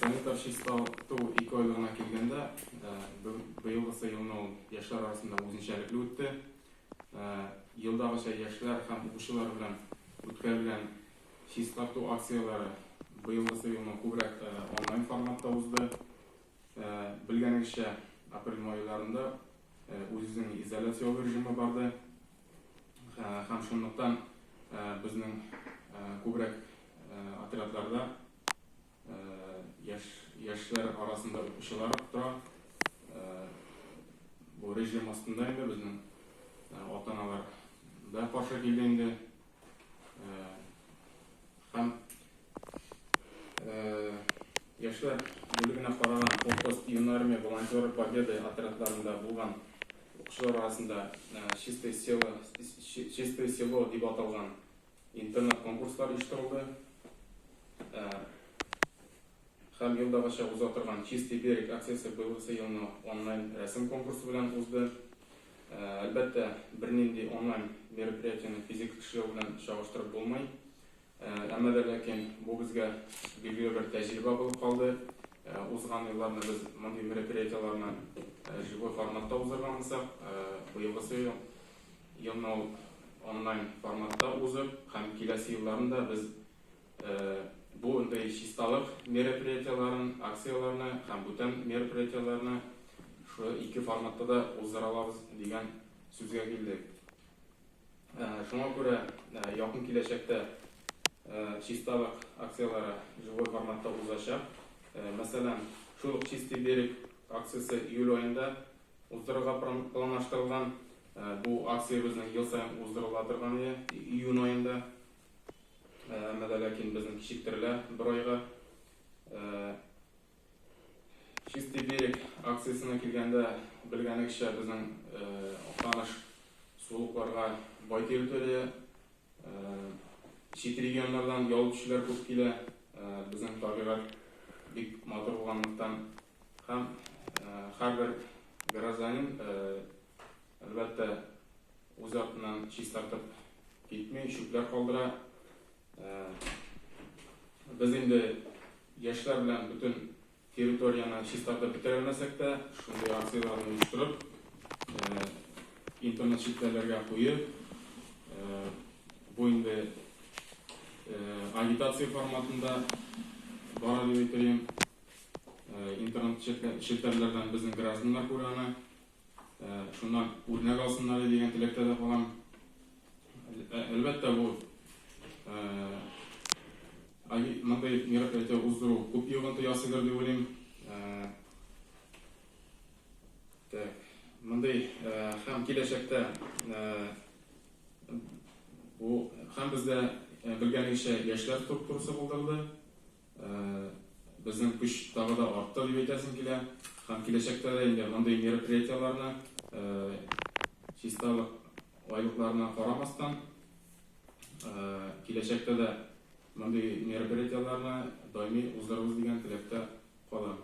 Советлар чистарту ике айлыгына килгәндә, быелгысы елны ул яшьләр арасында үзенчәлекле үтте. Елдагыча яшьләр һәм укучылар белән үткәрелгән чистарту акцияләре быелгысы елны күбрәк онлайн форматта узды. Белгәнегезчә, апрель-май айларында үз-үзеңне изоляцияләү режимы барды һәм шунлыктан безнең күбрәк отрядларда Яшь яшьләр арасында укучылар тора. Бу режим астында инде безнең ата-аналар да каршы килде инде. Һәм яшьләр бүлегенә караган Куркус, Юнармия, Волонтеры Победы отрядларында булган укучылар арасында Чистое село Чистое село дип аталган Интернет-конкурслар оештырылды һәм елдагыча уза торган Чистый берег акциясе быелгысы елны онлайн рәсем конкурсы белән узды. Әлбәттә, бернинди онлайн мероприятиене физик эшләү белән чагыштырып булмый. Әмма дә ләкин бу безгә билгеле бер тәҗрибә булып калды. Узган елларны без мондый мероприятиеләрне живой форматта уздырганбызак, быелгысы ел. Яңа ук онлайн форматта узып һәм киләсе елларын да без бу ндый чисталык мероприятиеләрен, акцияләрне һәм бүтән мероприятиеләрне шул ике форматта да уздыра алабыз дигән сүзгә килдек. Шуңа күрә якын киләчәктә чисталык акцияләре живой форматта узачак. Мәсәлән, шул ук Чистый берег акциясе июль аенда Уздырырга планлаштырылган бу акциябезнең ел саен уздырыла торган иде, июнь аенда. Әмма дә ләкин безнең кичектерелә бер айга. Чистый берег акциясенә килгәндә, белгәнегезчә, безнең Актаныш сулыкларга бай территория. Чит регионнардан ял итүчеләр күп килә. Безнең табигать бик матур булганлыктан, Һәм һәрбер гражданин, әлбәттә, үз артыннан чистартып китми, чүпләр калдыра. Без инде яшьләр белән бөтен территорияне чистартып бетерә белмәсәк тә, шундый акцияләрне оештырып, интернет челтәрләргә куеп, бу инде агитация форматында бара дип әйтәлим. Интернет челтәрләрдән безнең гражданнар күрә аны. Шуннан үрнәк алсыннар иде дигән теләктә дә калам. Әлбәттә, бу мондый мероприятие уздыру күп йогынты ясыйдыр дип уйлыйм. Так, мондый һәм киләчәктә бу һәм бездә белгәнегезчә яшьләр структурасы булдырылды. Безнең көч тагы да артты, дип әйтәсем килә. Һәм киләчәктә дә инде мондый мероприятиеләрне, чисталык айлыкларына карамастан, киләчәктә дә мондый мероприятиеләрне даими уздырырбыз дигән теләктә калам.